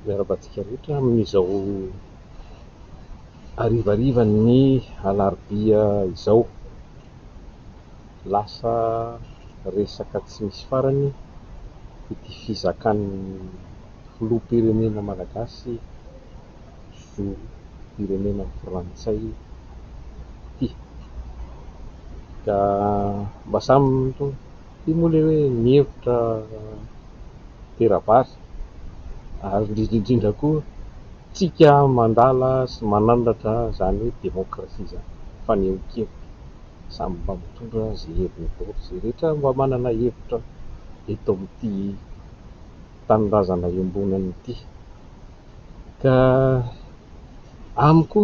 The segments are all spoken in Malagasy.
Miarahaba antsika rehetra amin'izao harivarivan'ny alarobia izao. Lasa resaka tsy misy farany ity fizakan'ny filoham-pirenena malagasy zom-pirenena frantsay ity ka mba samy Ity moa ilay hoe mihevitra tera-bary ary indrindra indrindra koa tsika mandala sy manandratra izany hoe demokrasia izany, fanehoan-kevitra, samy mba mitondra izay heviny daholo izay rehetra mba manana hevitra eto amin'ity tanindrazana iombonana ity. Ka amiko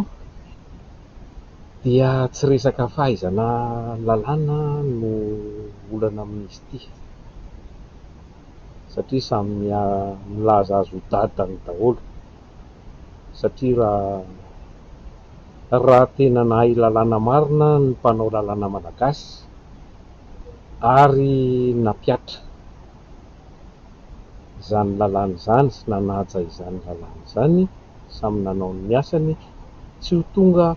Dia tsy resaka fahaizana lalàna no olana amin'izy ity satria samy milaza azy ho dadany daholo satria raha raha tena nahay lalàna marina ny mpanao lalàna malagasy ary nampiatra izany lalàna izany sy nanaja izany lalàna izany samy nanao ny asany eky, tsy ho tonga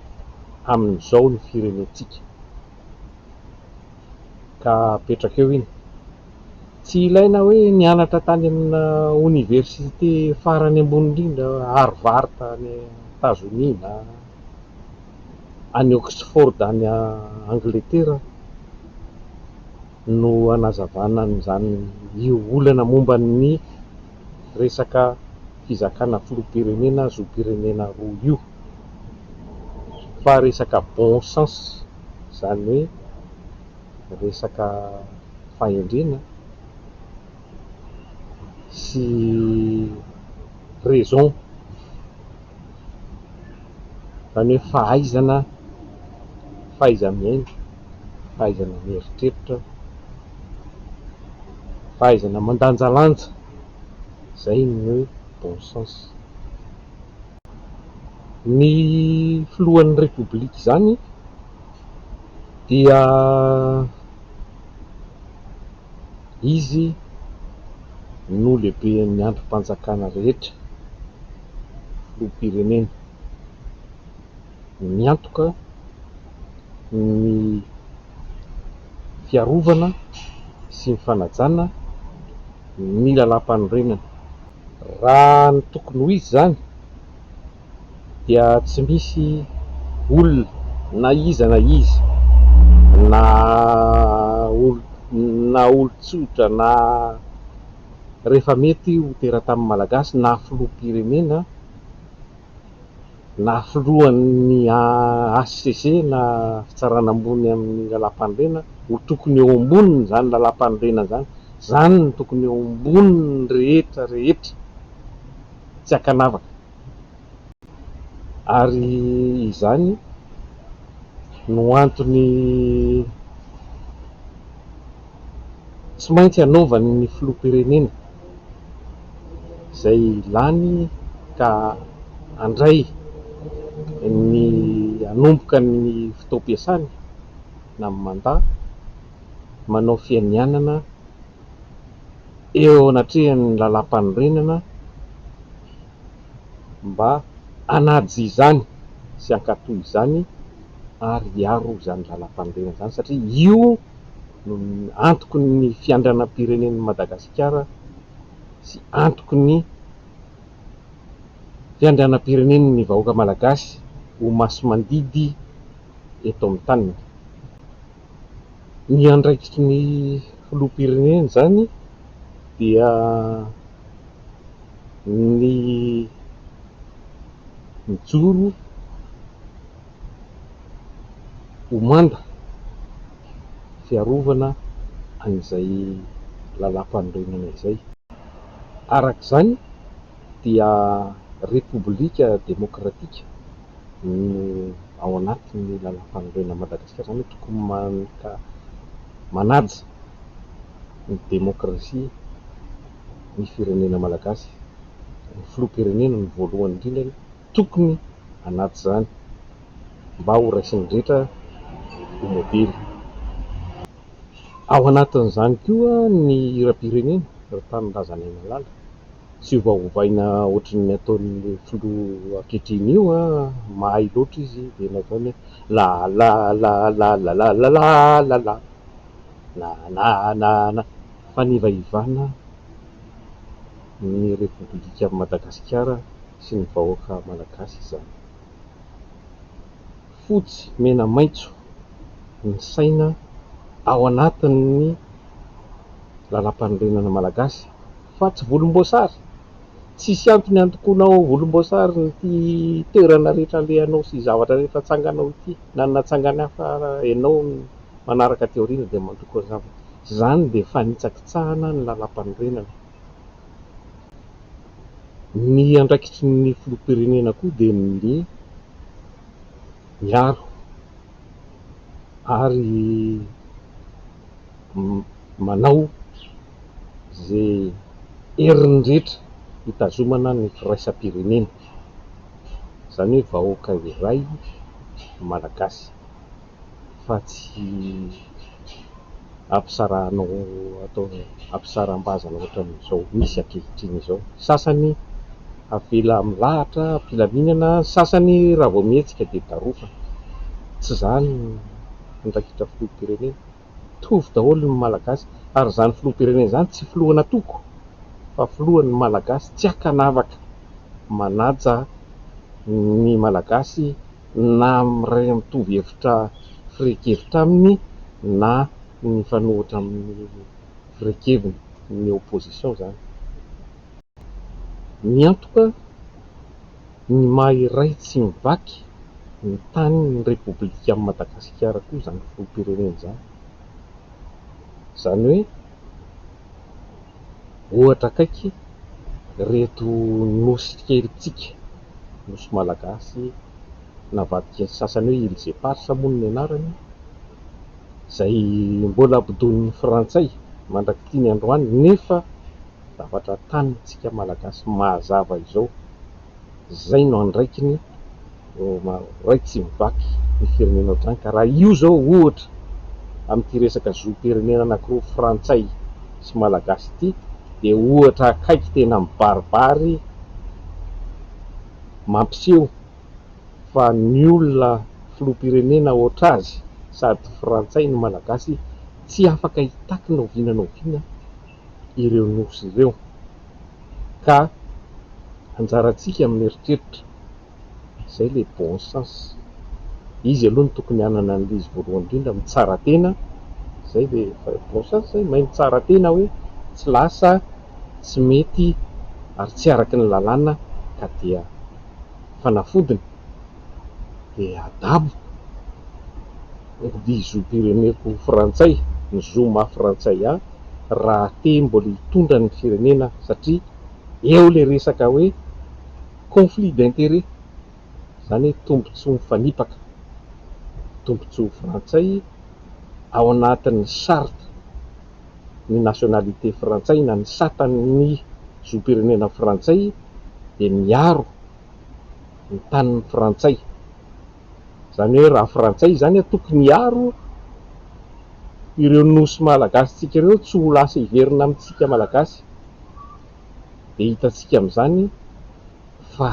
amin'izao ny firenentsika ka apetraka eo iny, tsy ilaina hoe nianatra tany amina oniversite farany ambony indrindra Harvard any Etazonia na any Oxford any Angletera. no hanazavana an'izany io olana momba ny resaka fizakana filoham-pirenena zom-pirenena roa io fa resaka bon sens izany hoe resaka fahendrena sy raison izany hoe fahaizana fahaiza-miaina. fahaizana mieritreritra, fahaizana mandanjalanja, izay ny hoe bon sens. Ny filohan'ny Repoblika izany dia izy no lehiben'ny andrim-panjakana rehetra, filoham-pirenena. miantoka ny fiarovana sy ny fanajana ny lalam-panorenana. Raha ny tokony ho izy izany dia tsy misy olona na iza na iza na na olon-tsotra na rehefa mety ho teratany malagasy na filoham-pirenena, na filohan'ny hcc na fitsarana ambony amin'ny lalam-panorenana ho tokony eo ambonin'izany lalam-panorenana izany, izany no tokony eo ambonin'ny rehetra rehetra, tsy ankanavaka, ary izany no antony. tsy maintsy anaovan'ny filoham-pirenena izay lany ka handray ny hanomboka ny fotoam-piasany na ny mandat manao fianianana eo anatrehan'ny lalàmpanorenana mba hanaja izany sy hankatò izany ary hiaro izany lalàmpanorenana izany satria io no antoky ny fiandranam-pirenen'i Madagasikara sy antoky ny fiandranam-pirenen'ny vahoaka malagasy ho masi-mandidy eto amin'ny taniny. Ny andraikitry ny filoham-pirenena izany dia ny mijoro. ho manda fiarovana an'izay lalàmpanorenana izay. Araka izany dia Repoblika demokratika no ao anatin'ny lalàmpanorenan'i Madagasikara, izany hoe tokony maka manaja ny demokrasia ny firenena malagasy, ny filoham-pirenena no voalohany indrindra aloha. tokony anaty izany mba ho raisin'ny rehetra ho modely. Ao anatin'izany koa ny hiram-pirenena, ry tanindrazanay malala. Tsy ovaovaina ohatran'ny ataon'ny filoha ankehitriny io a! Mahay loatra izy dia nataony hoe lalalalalalalalalala, nananana, fanivaivana. ny Repoblikan'i Madagasikara sy ny vahoaka Malagasy izany. Fotsy, mena, maitso ny saina ao anatin'ny Lalampanorenana Malagasy fa tsy volomboasary. Tsisy antony handokoanao ho volomboasary ity toerana rehetra alehanao sy zavatra rehetra atsanganao ity na ny natsangany hafa ianao ny manaraka aty aoriana dia mandoko an'izany fa izany dia fanitsakitsahana ny Lalampanorenana. Ny andraikitry ny filoham-pirenena koa dia ny miaro ary manao izay heriny rehetra hitazomana ny firaisam-pirenena, izany hoe vahoaka iray malagasy. fa tsy ampisarahanao atao ampisaram-bazana ohatran'izao misy ankehitriny izao. Sasany avela milahatra am-pilaminana, ny sasany raha vao mihetsika dia darofana. Tsy izany ny raikitra filoham-pirenena. mitovy daholo ny Malagasy ary izany filoham-pirenena izany tsy filohan'antoko fa filohan'ny Malagasy tsy ankanavaka manaja ny Malagasy na miray mitovy hevitra firehin-kevitra aminy na mifanohitra amin'ny firehin-keviny ny opposition izany ny antoka ny maha iray tsy mivaky ny tany ny Repoblikan'i Madagasikara koa izany filoham-pirenena izany. Izany hoe ohatra akaiky ireto nosy kelintsika, nosy malagasy navadiky ny sasany hoe Îles Éparses moa ny anarany, izay mbola bodoin'ny frantsay mandrak'ity ny androany nefa, zavatra tanintsika malagasy mahazava izao. Izay no andraikiny iray tsy mivaky ny firenena ohatrany ka raha io izao ohatra amin'ity resaka zom-pirenena anankiroa frantsay sy malagasy ity dia ohatra akaiky tena mibaribary mampiseho fa ny olona filoham-pirenena ohatr'azy sady frantsay no malagasy tsy afaka hitaky na oviana na oviana ireo nosy ireo, ka anjarantsika mieritreritra, izay ilay bon sens, izy aloha no tokony hanana an'ilay izy voalohany indrindra, mitsara tena, izay ve, bon sens izay, mahay mitsara tena hoe tsy lasa, tsy mety ary tsy araka ny lalàna ka dia fanafodiny dia adabo. Dihy zom-pireneko frantsay ny zo maha frantsay ahy raha te mbola hitondra ny firenena satria eo ilay resaka hoe conflit d'intérêt izany hoe tombontsoa mifanipaka tombontsoa frantsay ao anatin'ny charte ny nationalité frantsay na ny satan'ny zom-pirenena frantsay dia miaro ny tanin'ny frantsay. Izany hoe raha frantsay izany tokony hiaro ireo nosy malagasintsika ireo tsy ho lasa hiverina amintsika malagasy. Dia hitantsika amin'izany fa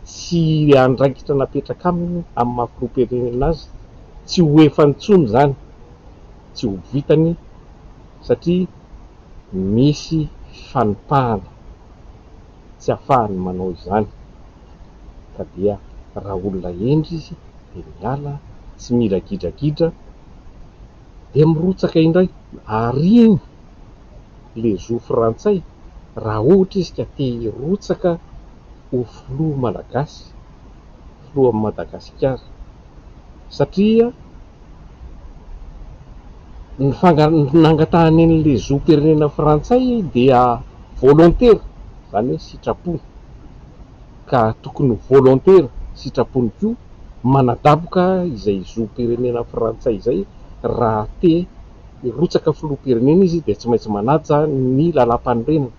tsy andraikitra napetraka aminy amin'ny maha filoham-pirenena azy tsy ho efa intsony izany, tsy ho vitany satria misy fanipahana. tsy afahany manao izany ka dia raha olona hendry izy dia miala tsy mila gidragidra dia mirotsaka indray ary iny le zo frantsay raha ohatra izy ka te hirotsaka ho filoha malagasy filohan'i Madagasikara satria ny fangala-ny nangatahany an'ilay zom-pirenena frantsay dia volontaire, izany hoe sitrapony, ka tokony ho volontaire, sitrapony koa, manadaboka izay zom-pirenena frantsay izay, raha te hirotsaka filoham-pirenena izy dia tsy maintsy manaja ny lalàmpanorenana.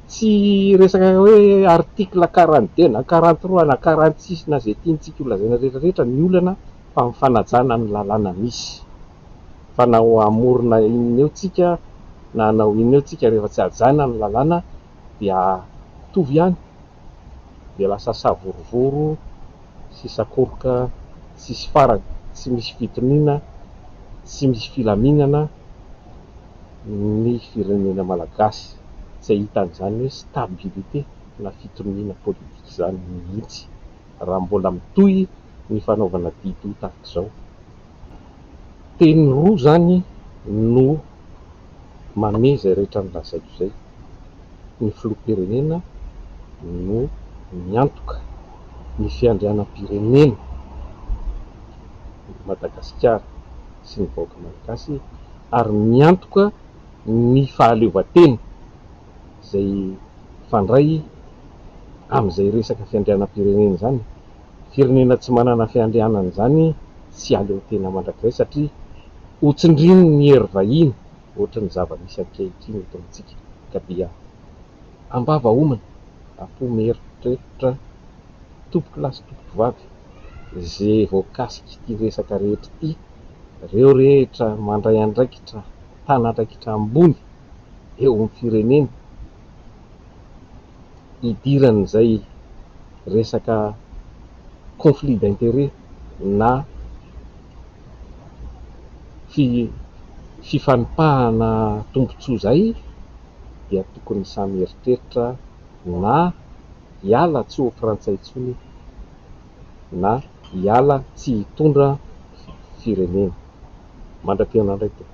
Tsy resaka hoe article quarante deux na quarante trois na quarante six na izay tiantsika ho lazaina rehetra rehetra ny olana fa ny fanajana ny lalàna misy. Fa na hamorona inona eo tsika na hanao inona eo tsika rehefa tsy hajana ny lalàna dia mitovy ihany. dia lasa savorovoro sy sakoroka tsisy farany, tsy misy fitoniana, tsy misy filaminana ny firenena malagasy, tsy ahitana izany hoe stabilité na fitoniana politika izany mihitsy raha mbola mitohy ny fanaovana didy tahaka izao. Teny roa izany no mamehy izay rehetra nolazaiko izay. ny filoham-pirenena no miantoka ny fiandrianam-pirenena i Madagasikara sy ny vahoaka malagasy ary miantoka ny fahaleovantena izay mifandray amin'izay resaka fiandrianam-pirenena izany. Firenena tsy manana fiandrianana izany tsy aleo tena mandrakizay satria hotsindrin'ny hery vahiny. ohatry ny zava-misy ankehitriny eto amintsika ka dia ambava homana apo mieritreritra tompoko lahy sy tompoko vavy ze voakasik'ity resaka rehetra ity reo rehetra mandray andraikitra tana andraikitra ambony eo amin'ny firenena idiran'izay resaka conflit d'intérêt na fifanipahana tombontsoa izay dia tokony samy hieritreritra na hiala tsy ho frantsay intsony na hiala tsy hitondra firenena. Mandra-pihaonandray tompoko.